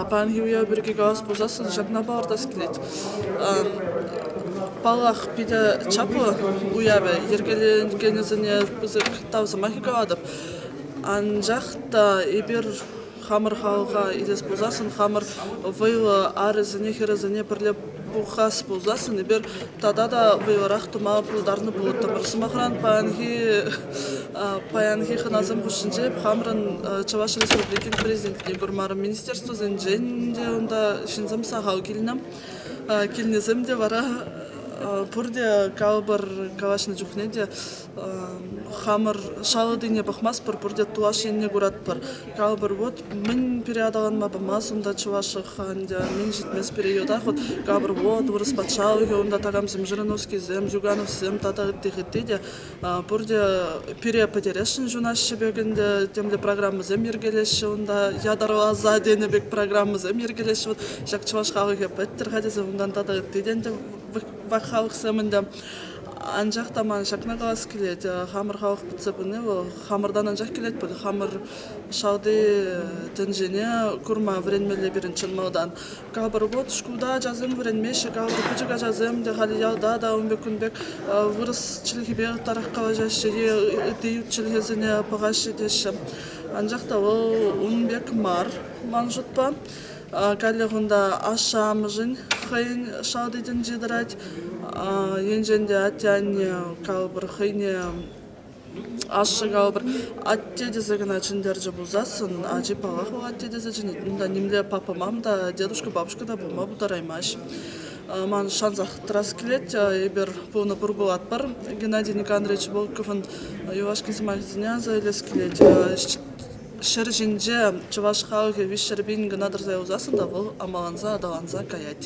Паянхи уяв пирки калас пулсассӑн ҫакна палӑртас килет. Паллах, питӗ чаплӑ уявӗ. Йӗркеленекенӗсене пысӑк тав сӑмахӗ калатӑп. Анчах та эпир хамӑр халӑха илес пулсассӑн хамӑр вӑйлӑ арӗсене хӗрӗсене пӗрле хас пулсассӑн эпир тата та вӑйлӑрах тума пултарнӑ пулӑттӑмӑр. Сӑмахран, паянхи паянхи хӑнасем хушшинче хамӑрӑн Чӑваш Республикин Президентне курмарӑм. Министерствӑсенчен те унта ҫынсем сахал килнӗ. Килнисем те вара пурте калӑпӑр калаҫнӑ чухне те Хамӑр шалӑрине пӑхмастпӑр, пурте тулаш енне куратпӑр. Калӑпӑр, вот мӗн пире аталанма памасть унта чӑваш чӑлха ӗнтӗ, мӗн ҫитмест периодах вот калӑпӑр, вот вырӑс патшалӑхӗ унта такамсем, жириновскисем, жугановсем тата ытти ытти те пурте пире пӗтересшӗн ҫунаҫҫӗ пек ӗнтӗ, темле программӑсем йӗркелеҫҫӗ унта, ятарласа тенӗ пек программӑсем йӗркелеҫҫӗ, вот ҫак чӑваш халӑхӗ пӗттӗр-ха тесе унтан тата ытти те ӗнтӗ халӑхсем ӗнтӗ Анчах та ман ҫакна калас килет, хамӑр халӑх пӗтсе пыни вӑл хамӑртан анчах килет пуль. Хамӑр шалти тӗнчене курма вӗренмелле пирӗн чӑн малтан. Капӑр вӑт шкулта ачасем вӗренмеҫҫӗ, капӑр пӗчӗк ачасем те халь ялта та ун пек кун пек вырӑс чӗлхипе ытларах калаҫаҫҫӗ е ытти ют чӗлхесене пӑхаҫҫӗ теҫҫӗ. Анчах та вӑл ун пек мар ман шутпа. Каллех унта ашшӗ-амӑшӗн хӑйӗн шалти тӗнчи тӑрать. Енчен те атте-анне калӑпӑр хӑйне ашшӗ калӑпӑр атте тесе кӑна чӗнтерчӗ пулсассӑн ачи паллах вӑл атте тесе чӗнет. Унта нимле папа мам та дедушка бабушка та пулма пултараймасть. Ман шансах тӑрас килет эпир пулнӑ пур пулатпӑр. Геннадий Никандрович Волковӑн юлашки сӑмахӗсене аса илес килет. Ҫӗр ҫинче чӑваш халӑхӗ виҫҫӗр пин кӑна тӑрса юсассӑн та вӑл амаланса аталанса каять.